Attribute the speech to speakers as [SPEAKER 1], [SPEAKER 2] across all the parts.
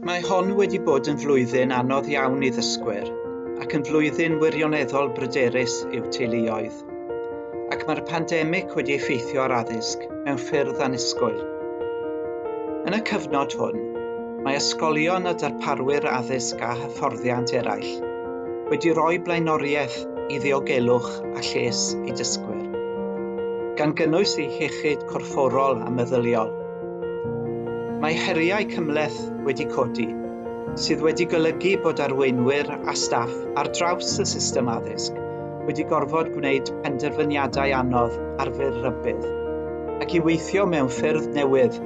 [SPEAKER 1] Mae hon wedi bod yn flwyddyn anodd iawn i ddysgwyr ac yn flwyddyn wirioneddol bryderus i'w teuluoedd. Ac mae'r pandemig wedi effeithio ar addysg mewn ffyrdd annisgwyl. Yn y cyfnod hwn, mae ysgolion a darparwyr addysg a hyfforddiant eraill wedi rhoi blaenoriaeth i ddiogelwch a lles i dysgwyr, gan gynnwys eu hiechyd corfforol a meddyliol. Mae heriau cymhleth wedi codi, sydd wedi golygu bod arweinwyr a staff ar draws y system addysg wedi gorfod gwneud penderfyniadau anodd ar fyr rhybudd, ac i weithio mewn ffyrdd newydd,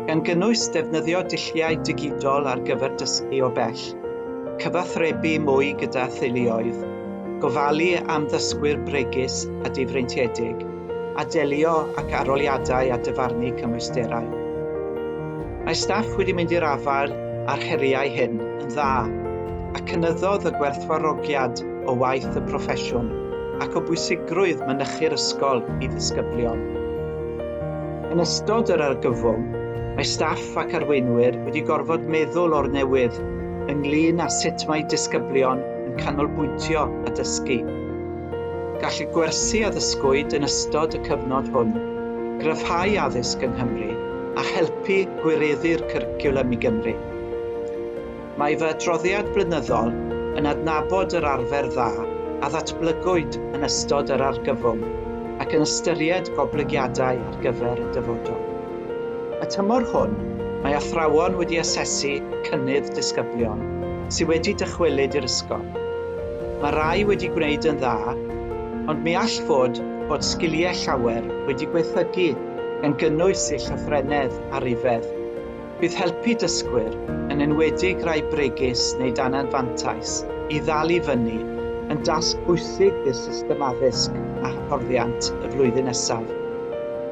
[SPEAKER 1] gan gynnwys defnyddio dulliau digidol ar gyfer dysgu o bell, cyfathrebu mwy gyda theuluoedd, gofalu am ddysgwyr bregus a difreintiedig. a delio ac aroliadau a dyfarnu cymwysterau. Mae staff wedi mynd i'r afael â'r heriau hyn yn dda a cynyddodd y gwerthfawrogiad o waith y proffesiwn ac o bwysigrwydd mynychu'r ysgol i ddisgyblion. Yn ystod yr argyfwng, mae staff ac arweinwyr wedi gorfod meddwl o'r newydd ynglŷn â sut mae disgyblion yn canolbwyntio a dysgu. Gall y gwersi a ddysgwyd yn ystod y cyfnod hwn gryfhau addysg yng Nghymru a helpu gwireddu'r cwricwlwm i Gymru. Mae fy adroddiad blynyddol yn adnabod yr arfer dda a ddatblygwyd yn ystod yr argyfwng ac yn ystyried goblygiadau ar gyfer y dyfodol. Y tymor hwn, mae athrawon wedi asesu cynnydd disgyblion sydd wedi dychwelyd i'r ysgol. Mae rhai wedi gwneud yn dda, ond mi all fod bod sgiliau llawer wedi gwaethygu gan gynnwys eu llythrennedd a rhifedd. Bydd helpu dysgwyr, yn enwedig rai bregus neu dan anfantais, i ddal i fyny yn dasg bwysig i'r system addysg a hyfforddiant y flwyddyn nesaf.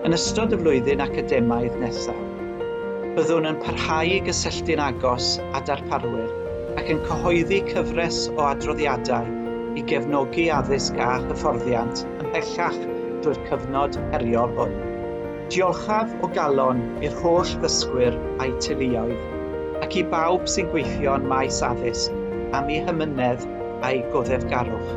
[SPEAKER 1] Yn ystod y flwyddyn academaidd nesaf, byddwn yn parhau i gysylltu'n agos â darparwyr, ac yn cyhoeddi cyfres o adroddiadau i gefnogi addysg a hyfforddiant ymhellach drwy'r cyfnod heriol hwn. Diolchaf o galon i'r holl ddysgwyr a'u teuluoedd, ac i bawb sy'n gweithio yn maes addysg am eu hamynedd a'u goddefgarwch.